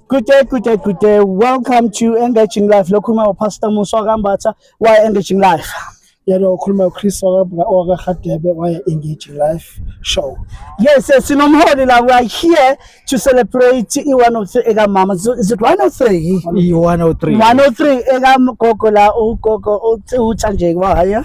Good day, good day, good day. Welcome to Engaging Life. Lokhu uma uPastor Musa wakambatha wa Engaging Life. yena okhuluma uChris wakaRhadebe waye Engaging Life show. Yes, yes, sinomholi la. We are here to celebrate i-103 eka mama. Is is it 103? i-103 103 eka gogo la ugogo uthi uthanjeke wahaya.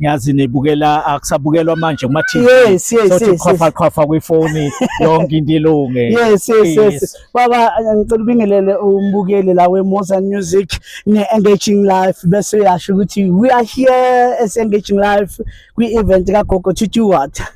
ngiyazi nibukela akusabukelwa manje kuma TV yes, yes, sothi yes, qhafa qhafa kwifoni yonke into ilunge yes yes yes baba ngicela ubingelele umbukeli la we Moza Music ne Engaging Life bese uyasho ukuthi we are here as Engaging Life kwi event ka Gogo Titi Water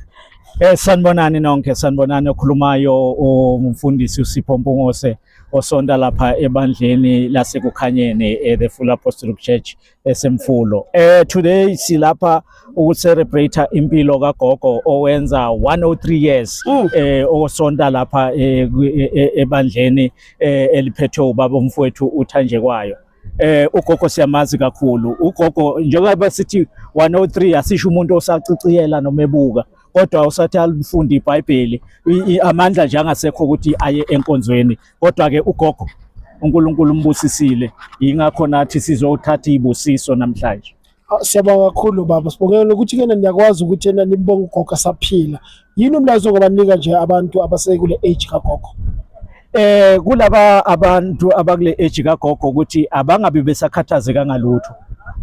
Eh sanibonani nonke sanibonani okhulumayo umfundisi uSipho Mpungose osonta lapha ebandleni lasekukhanyeni eh, the Full Apostolic Church esemfulo eh today silapha ukucelebrate impilo kagogo owenza 103 years mm. eh osonta lapha eh, e, e, ebandleni eh, eliphethwe ubaba umfowethu uthanje kwayo eh ugogo siyamazi kakhulu ugogo njengoba sithi 103 asisho umuntu osaciciyela noma ebuka kodwa usathi alifunde iBhayibheli amandla nje angasekho ukuthi aye enkonzweni kodwa ke ugogo uNkulunkulu umbusisile yingakho nathi sizothatha ibusiso namhlanje ah, Siyabonga kakhulu baba sibongela ukuthi kena niyakwazi ukuthi yena nimbonga ugogo saphila yini umlayezo ngobanika nje abantu abasekule age kagogo eh kulaba abantu abakule age kagogo ukuthi abangabi besakhathazeka ngalutho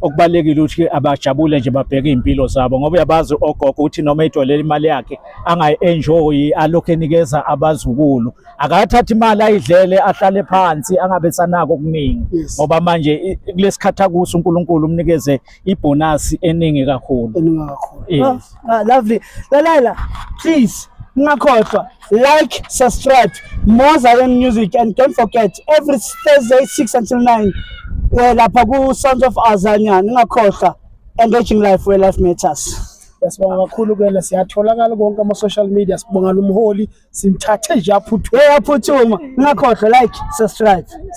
okubalekile ukuthi abajabule nje babheke impilo zabo ngoba uyabazi ogogo ukuthi noma idolele imali yakhe angayi enjoy alokho enikeza abazukulu akathathe imali ayidlele ahlale phansi angabe sanako okuningi ngoba manje kulesikhathi akuso uNkulunkulu umnikeze ibonus eningi kakhulu eningi kakhulu ah, ah, lovely lalela please ningakhohlwa like subscribe more Zion music and don't forget every Thursday 6 until 9 eh, lapha ku Sons of Azania ningakhohlwa engaging life where life matters Yasibonga kakhulu kuyena siyatholakala konke ama social media sibonga lomholi simthathe nje aphuthume aphuthuma ngakhohlwa like subscribe